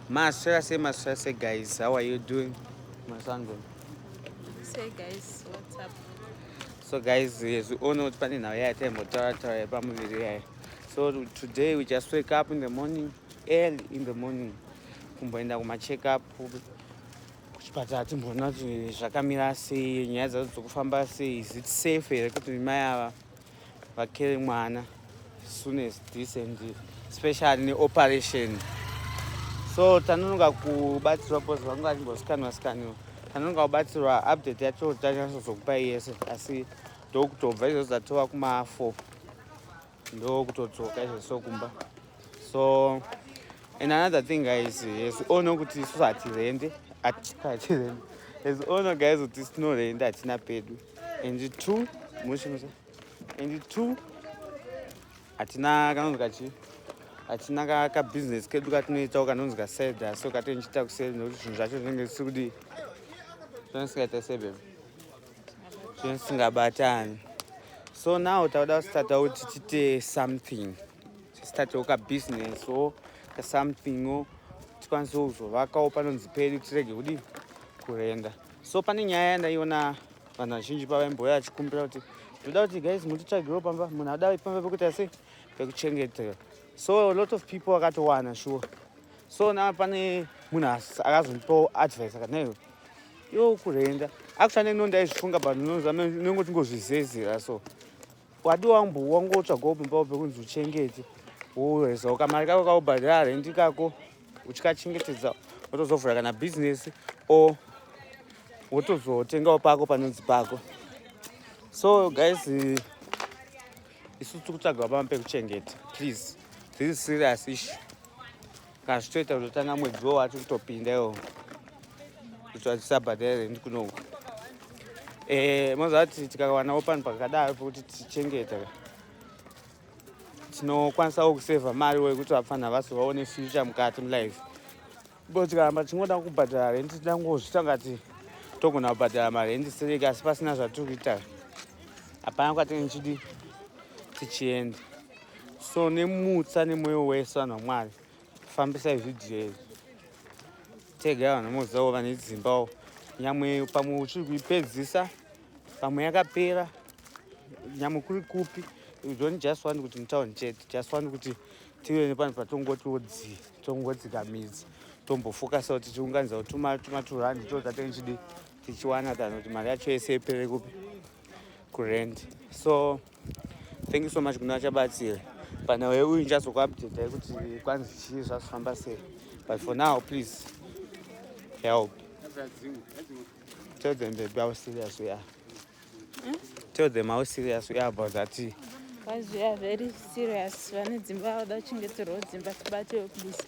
Maswera sei maswera sei guys how are you doing masango Say guys what's up so guys hezvione kuti pane nhau yaya taimbotaura taura yepamuviri yaya so today we just wake up in the morning early in the morning kumboenda kumacheck up kuchipatara timboona kuti zvakamira sei nyaya dzadzo dzokufamba sei is it safe here kuti mai ava vakere mwana soon as this and special neoperation so tanonoga kubatsirwa bcause vangu vatimbosikanwa sikaniwa tanonoga kubatsirwa update yacho tanyatsozokupai yese asi ndokutobva izvozvo dzatova kuma four ndokutodzoka izvozvo kumba so and another thing guys as all know kuti isusu hatirende hatirende as all know guys kuti tinorenda hatina pedu and two mushimusa and two hatina kanonzi kachi hatina kabusiness kedu katinoitawo kanonzi kaseda so katinochiita kuseri nokuti zvinhu zvacho zvinenge zvisiri kudii zvino sikaita sebem zvino singabatani so now tauda kusitata kuti tiite something Statowo ka business or ka something or tikwanise kuzovakawo panonzi pedu tirege kudii kurenda. So pane nyaya yandaiona vanhu vazhinji pavaimbouya vachikumbira kuti ndoda kuti guys mutitsvagiro pamba munhu adai pamba pekuita sei pekuchengetera so a lot of people vakatowana shuwa so na pane munhu akazondipawo advice akadaiwo iwo kurenda akushanda ino ndaizvifunga but nongotingozvizezera so Wadi wangu wangotsvagawo pimbawo pekunzi uchengete wowezawo kamari kako kaubhadhara rendi kako uchikachengetedza wotozovhura kana bhizinesi o wotozotengawo pako panonzi pako so guys isu tiri kutsvagawo pama pekuchengeta please this is serious issue Kana zvitoita kutotanga mwedzi wo wati kutopinda iwo kuti vachisabhadha here ndi kunouka eh, mozati tikawanawo panhu pakadaro pokuti tichengeta tinokwanisawo kusevha mari wo yekuti vapfanha vasi vaone future mukati mulife bo tikaramba tichingoda kubhadhara rendi tida kungozvita ngati togona kubhadhara marendi sereki asi pasina zvatiri kuita hapana kwatinge tichidi tichienda so nemutsa nemoyo wese vanhu vamwari fambisai zvidhiyo izvi tega vanhu mozivawo vane dzimbawo nyamwe pamwe uchiri kuipedzisa pamwe yakapera nyamwe kuri kupi don't just want kuti mutown chete just want kuti tive nepano patongotiwo dzi tongodzika midzi tombofokasa kuti tiunganidza kuti tuma tuma turandi to tatenge chidi tichiwana kana kuti mari yacho yese ipere kupi kurent so thank you so much kuna vachabatsira pana uye uyu ndichazokuupdatai kuti kwanzi chii zvazvifamba sei but for now please help tell them baby how serious we are hmm? tell them how serious we are about that tea. Guys, we are very serious. Vane dzimba vada kuchengeterwa dzimba tibatewo please.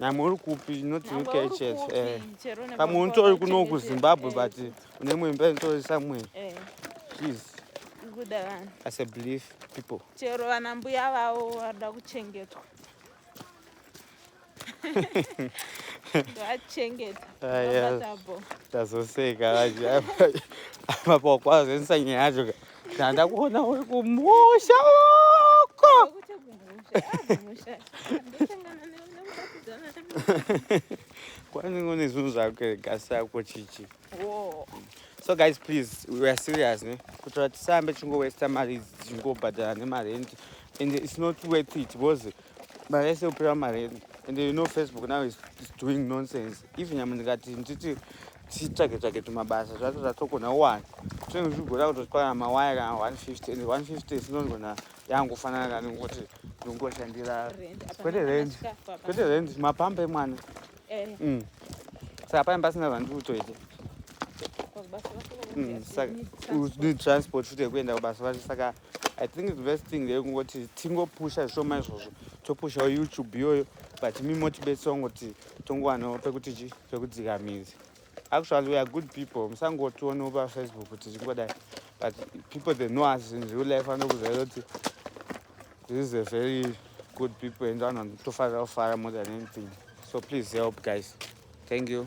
namwe uri kupi not uk church eh. pamwe unitori kuno kuzimbabwe eh, but une mwemba initori somewhere eh. please kuda vanhu as a belief people chero vana mbuya vavo varida kuchengetwa ndovachengeta ah, tazoseka vacho apa kwazoenesa nyaya yacho ka Ndandakuona uri kumusha uko. Kwani ngone zvinhu zvako gasi yako chichi. So guys please we are serious ne. Kuti vatisambe chingo waste mari chingo bhadhara ne marent and it's not worth it because mari yese kupera mari yedu and you know facebook now is doing nonsense if nyama ndikati nditi titsvake tsvake tumabasa zvacho zvatokona one tinenge tichigona kutotipana mawaya kana 150 and 150 sinongona yangofanana kani kuti ndongoshandira kwete rent kwete rent mapamba emwana eh. mm. saka pane pasina zvandiri kutoita mm, saka need transport futi yekuenda kubasa vacho saka i think the best thing there kungoti tingopusha zvishoma izvozvo topushawo youtube iyoyo but mi motibetsera kungoti tongowanawo pekuti chi pekudzika mizi actually weare good people musangotionewo pafacebook kuti chingodai but people they know us in real life anokuzvaira kuti this is a very good people and vanotofarira kufara more than anything so please help guys thank you